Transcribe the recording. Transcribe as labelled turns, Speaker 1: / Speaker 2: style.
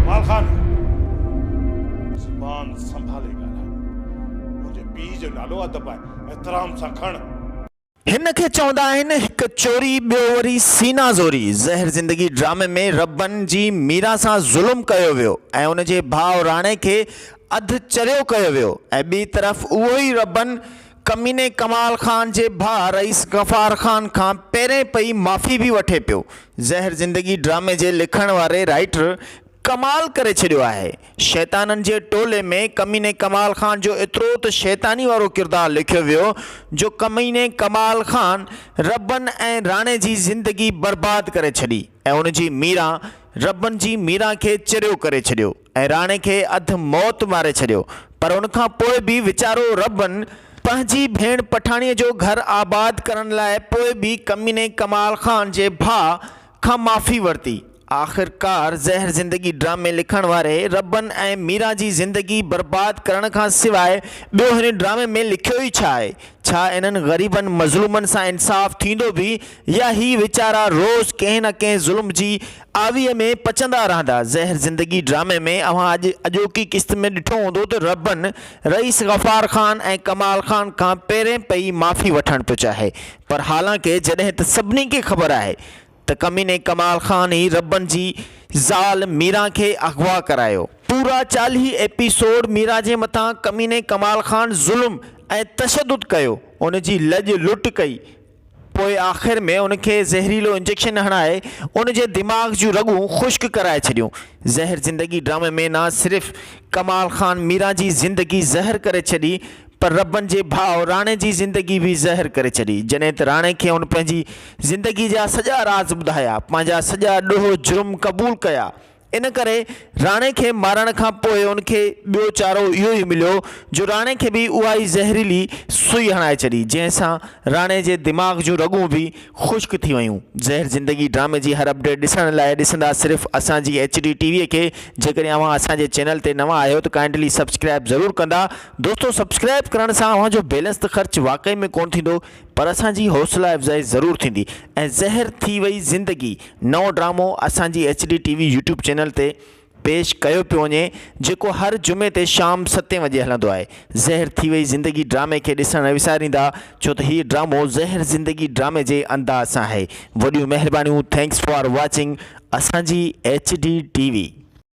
Speaker 1: جمال خان! زبان سنڀالي ڳالهاء. منهنجي پيء جو نالو ادب آهي، احترام سان کڻ. هن کي
Speaker 2: چوندا آهن هڪ چوري ٻيو وري سينا زوري. زهر زندگي ڊرامي ۾ ربن جي ميرا سان ظلم ڪيو ويو ۽ ان جي ڀاء راڻي کي اڌ چريو ڪيو ويو ۽ ٻي طرف اهو ئي ربن ڪميني ڪمال خان جي ڀاء رئيس غفار خان کان پهرين پئي معافي به وٺي پيو. زهر زندگي ڊرامي جي لکڻ واري رائٽر ڪمال ڪري ڇڏيو آهي. شيطانن جي ٽولي ۾ ڪميني ڪمال خان جو ايترو ته شيطاني وارو ڪردار لکيو ويو جو ڪميني ڪمال خان ربن ۽ راڻي جي زندگي برباد ڪري ڇڏي ۽ ان جي ميران ربن جي ميران کي چريو ڪري ڇڏيو. ۽ راڻي کي اڌ موت ماري ڇڏيو پر ان کان پوء به ويچارو ربن پنهنجي ڀيڻ پٺاڻيء جو گهر آباد ڪرڻ لاء پوء به ڪميني ڪمال خان جي ڀاء کان معافي ورتي. آخرڪار زهر زندگي ڊرامي لکڻ واري ربن ۽ ميران جي زندگي برباد ڪرڻ کان سواء ٻيو هن ڊرامي ۾ لکيو ئي ڇا آهي؟ ڇا انهن غريبن مظلومن سان انصاف ٿيندو به يا هي ويچارا روز ڪنهن نه ڪنهن ظلم جي آويء ۾ پچندا رهندا. زهر زندگي ڊرامي ۾ اوهان اڄ اڄوڪي قسط ۾ ڏٺو هوندو ته رهبن رئيس غفار خان ۽ ڪمال خان کان پهرين پئي معافي وٺڻ ٿو چاهي پر حالانڪه جڏهن ته سڀني کي خبر آهي ته ڪميني ڪمال خان ئي رهبن جي زال ميران کي اغوا ڪرايو. پورا چاليهه ايپيسوڊ ميران جي مٿان ڪميني ڪمال خان ظلم ۽ تشدد ڪيو ان جي لڄ لٽ ڪئي پوء آخر ۾ ان کي زهريلو انجيڪشن هڻائي ان جي دماغ جون رڳون خشڪ ڪرائي ڇڏيون. زهر زندگي ڊرامي ۾ نه صرف ڪمال خان ميران جي زندگي زهر ڪري ڇڏي پر ربن جي ڀاء راڻي جي زندگي به زهر ڪري ڇڏي جڏهن ته راڻي کي هن پنهنجي زندگي جا سڄا راز ٻڌايا پنهنجا سڄا ڏوهه جرم قبول ڪيا ان ڪري راڻي کي مارڻ کان پوء ان کي ٻيو چارو اهو ئي مليو جو راڻي کي به اها ئي زهريلي سوئي هڻائي ڇڏي جنهن سان راڻي جي دماغ جون رڳون به خشڪ ٿي ويون زهر زندگي ڊرامي جي هر اپڊيٽ ڏسڻ لاء ڏسندا صرف اسان جي ايڇ ڊي ٽي وي کي جيڪڏهن اوهان اسان جي چينل تي نوان آهيو ته ڪائنڊلي سبسڪرائب ضرور ڪندا دوستو سبسڪرائب ڪرڻ سان اوهان جو بيلنس ته خرچ واقعي ۾ ڪونه ٿيندو پر اسان جي حوصلا افزائي ضرور ٿيندي ۽ زهر ٿي وئي زندگي نئون ڊرامو اسان جي H D T V YouTube channel تي پيش ڪيو پيو وڃي جيڪو هر جمعي تي شام ستين وڄي هلندو آهي زهر ٿي وئي زندگي ڊرامي کي ڏسڻ نه وساريندا ڇو ته هي ڊرامو زهر زندگي ڊرامي جي انداز سان آهي وڏيون مهربانيون ٿينڪس فار واچنگ اسان جي ايڇ ڊي ٽي وي.